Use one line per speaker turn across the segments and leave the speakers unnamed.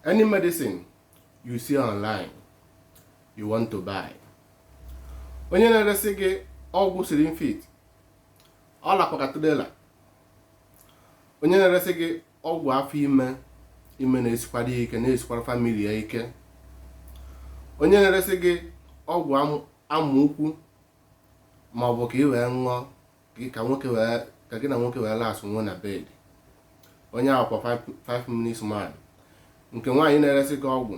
any medicine you see online you want to buy onye na-eresị gị ọgwụ slim fit ọ lakwa ka trailer onye na-eresị gị ọgwụ afọ ime ime na-esikwara ya ike na-esikwara famili ya ike onye na-eresị gị ọgwụ amụ ukwu ma ọ bụ ka ị wee ṅụọ ka gị na nwoke wee last nwuo na bed onye ahụ kwa 5 minutes man nke nwaanyị na-eresị gị ọgwụ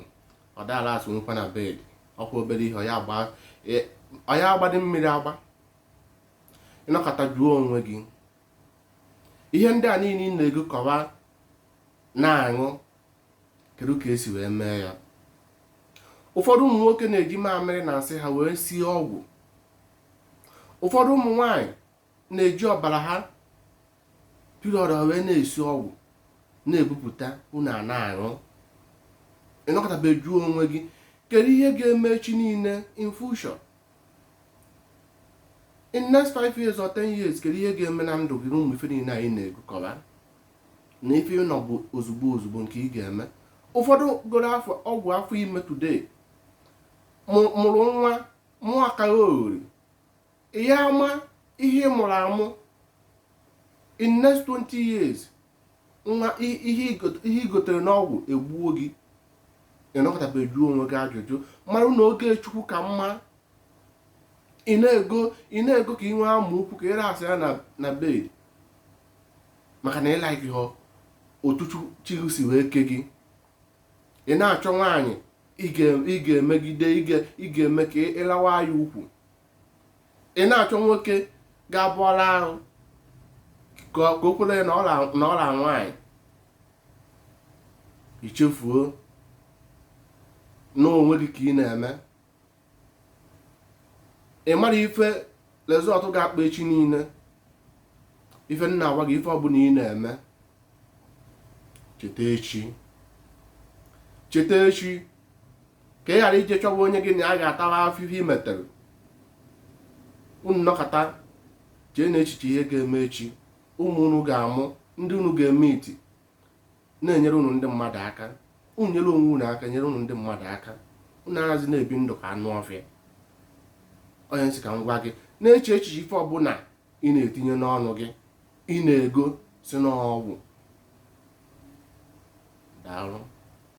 ọ da alast nwukwa na bed ọkwa obere ihe ọ ya-agbadị mmiri agba ị nọkata jụọ onwe gị ihe ndị a niile ị na-egokọwa na-aṅụ kedu ka e si wee mee ya ụfọdụ ụmụ nwoke na-eji mamịrị na nsị ha wee sie ọgwụ ụfọdụ ụmụ nwanyị na-eji ọbara ha period ha wee na-esi ọgwụ na-ebupụta unu ana-aṅụ ị nọkatabe jụọ onwe gị kedu ihe ga-eme echi niile in future in next 5 years or 10 years kedu ihe ga-eme na ndụ gị na ụmụ ife niile anyị na-egokọba na ife ị nọ bụ ozugbo ozugbo nke ị ga-eme ụfọdụ goro afọ ọgwụ afọ ime today mụ- mụrụ nwa mụọ akalioghori ị ya-ama ihe ị mụrụ amụ in next 20 years nwa i- ihe igot- ihe i gotere n'ọgwụ egbuo gị ị nọkatabe jụọ onwe gị ajụjụ mara na oge chukwu ka mma ị na-ego ị na-ego ka ị nwee amụ ukwu ka ị lastịa na bed maka na ị likehọ otu Chukwu- chi gị si wee ke gị ị na-achọ nwaanyị ị ga-emegide ị ga-eme ka ị lawaa ya ukwu ị na-achọ nwoke ga-abụ ọ la ahụ ka o kwere na ọ la nwaanyị i chefuo na onwe gị ka ị na-eme ị mara ife result ga-akpa echi niile ife m na-agwa gị ife ọbụla ị na-eme cheta echi cheta echi ka ị ghara ije chọwa onye gị na ya ga-atawa afụfụ i metere unu nọkata jee na echiche ihe ga-eme echi ụmụ unu ga-amụ ndị unu ga-eme iti na-enyere unu ndị mmadụ aka unu nyere onwe unu aka nyere unu ndị mmadụ aka unu anazị na-ebi ndụ ka anụ ọfịa ọ ihe m sị ka m gwa gị na-eche echiche ife ọbụla ị na-etinye n'ọnụ gị ị na-ego sị na ọgwụ daalụ